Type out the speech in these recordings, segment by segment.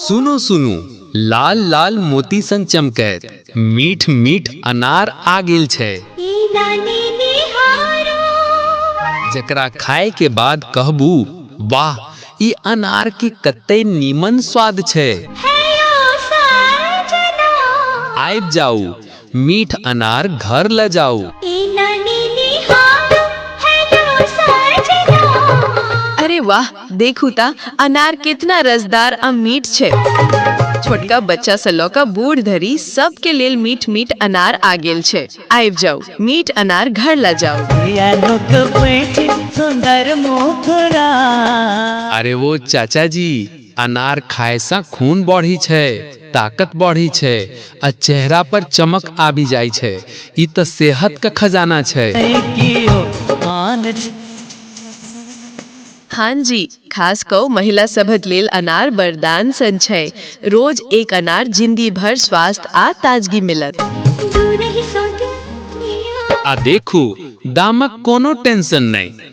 सुनू सुनू लाल लाल मोती सन चमकैत मीठ मीठ अनार आ गेल छै जकरा खाए के बाद कहबू वाह ई अनार के कते नीमन स्वाद छै आबि जाऊ मीठ अनार घर ल जाऊ अरे वाह देखू ता अनार कितना रसदार आ मीठ छे छोटका बच्चा से लऽ कऽ बूढ़ धरि सबके लेल मीठ मीठ अनार आ गेल छै आबि जाऊ मीठ अनार घर ल जाऊ सुंदर मुखरा अरे वो चाचा जी अनार खायसँ खून बढ़ि छै, ताकत बढ़ि छै आ चेहरा पर चमक आबि जाइ छै। ई त सेहत क खजाना छै। हाँ जी, खास कऽ महिला सभक लेल अनार वरदान सन छै। रोज एक अनार जिनगी भर स्वास्थ्य आ ताजगी मिलत। आ देखू, दामक कोनो टेंशन नहि।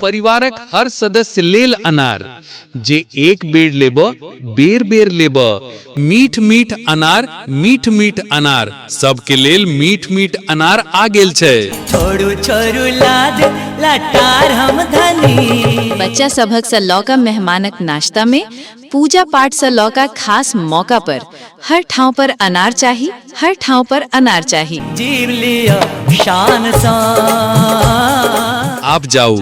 परिवारक हर सदस्य लेल अनार, जे एक बेर लेबऽ, बेर-बेर लेबऽ। मीठ-मीठ अनार, मीठ-मीठ अनार, सबके लेल मीठ-मीठ अनार आ गेल छै। छोड़ू छोड़ू लाज लटार हम धनी। बच्चा सभक सँ लऽ कऽ मेहमानक नाश्ता मे। पूजा पाठ से लऽ का खास मौका पर हर ठाव पर अनार चाही हर ठाव पर अनार चाही जीव लिया शान सा आप जाऊ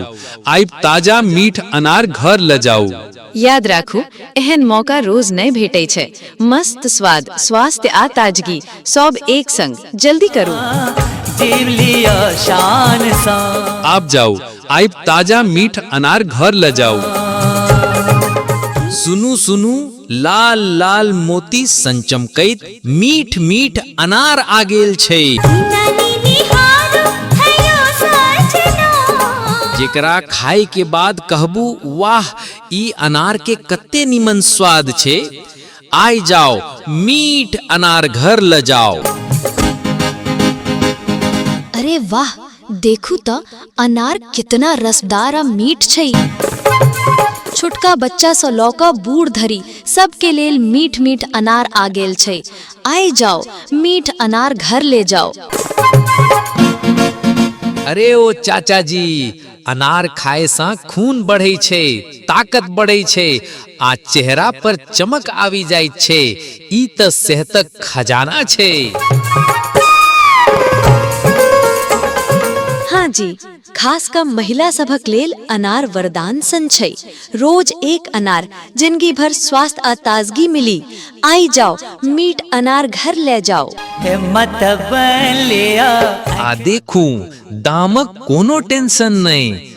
आइब ताजा मीठ अनार घर ल जाऊ याद राखू एहन मौका रोज नहीं भेटे छे मस्त स्वाद स्वास्थ्य आ ताजगी सब एक संग जल्दी करू जीव लिया शान सा आप जाऊ आइब ताजा मीठ अनार घर ले जाऊ सुनू सुनू लाल लाल मोती संचमकैत मीठ मीठ अनार आ गेल छै जेकरा खाए के बाद कहबू वाह ई अनार के कते निमन स्वाद छै आइ जाओ मीठ अनार घर ल जाओ अरे वाह देखू तऽ अनार कितना रसदार आ मीठ छै छोटका बच्चा सँ लऽ कऽ बूढ़ धरि सबके लेल मीठ मीठ अनार आ गेल छै आइ जाओ मीठ अनार घर ले जाओ अरे ओ चाचा जी अनार खाए सँ खून बढ़ै छै ताकत बढ़ै छै आ चेहरा पर चमक आबि जाइत छै ई तऽ सेहतक खजाना छै हाँ जी खास कऽ महिला सभक लेल अनार वरदान सन छै रोज एक अनार जिनगी भर स्वास्थ्य आ ताजगी मिली आई जाओ मीठ अनार घर ले जाओ हिम्मत बलिया आ देखू दामक कोनो टेंशन नहि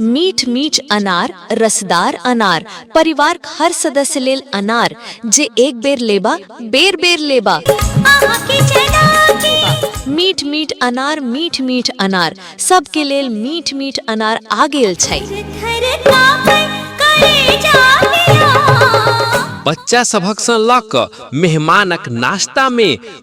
मीठ मीठ अनार रसदार अनार परिवार के हर सदस्य लेल अनार जे एक बेर लेबा बेर बेर लेबा अहाँ के चला के मीठ मीठ अनार मीठ मीठ अनार सबके लेल मीठ मीठ अनार आ गेल छै थर कापे करे जाबिया बच्चा सभक सँ लऽ कऽ मेहमानक नाश्ता मे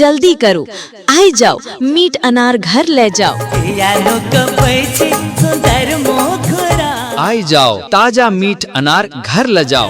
जल्दी करू आइ जाओ मीट अनार घर ले जाओ आइ जाओ ताजा मीट अनार घर ले जाओ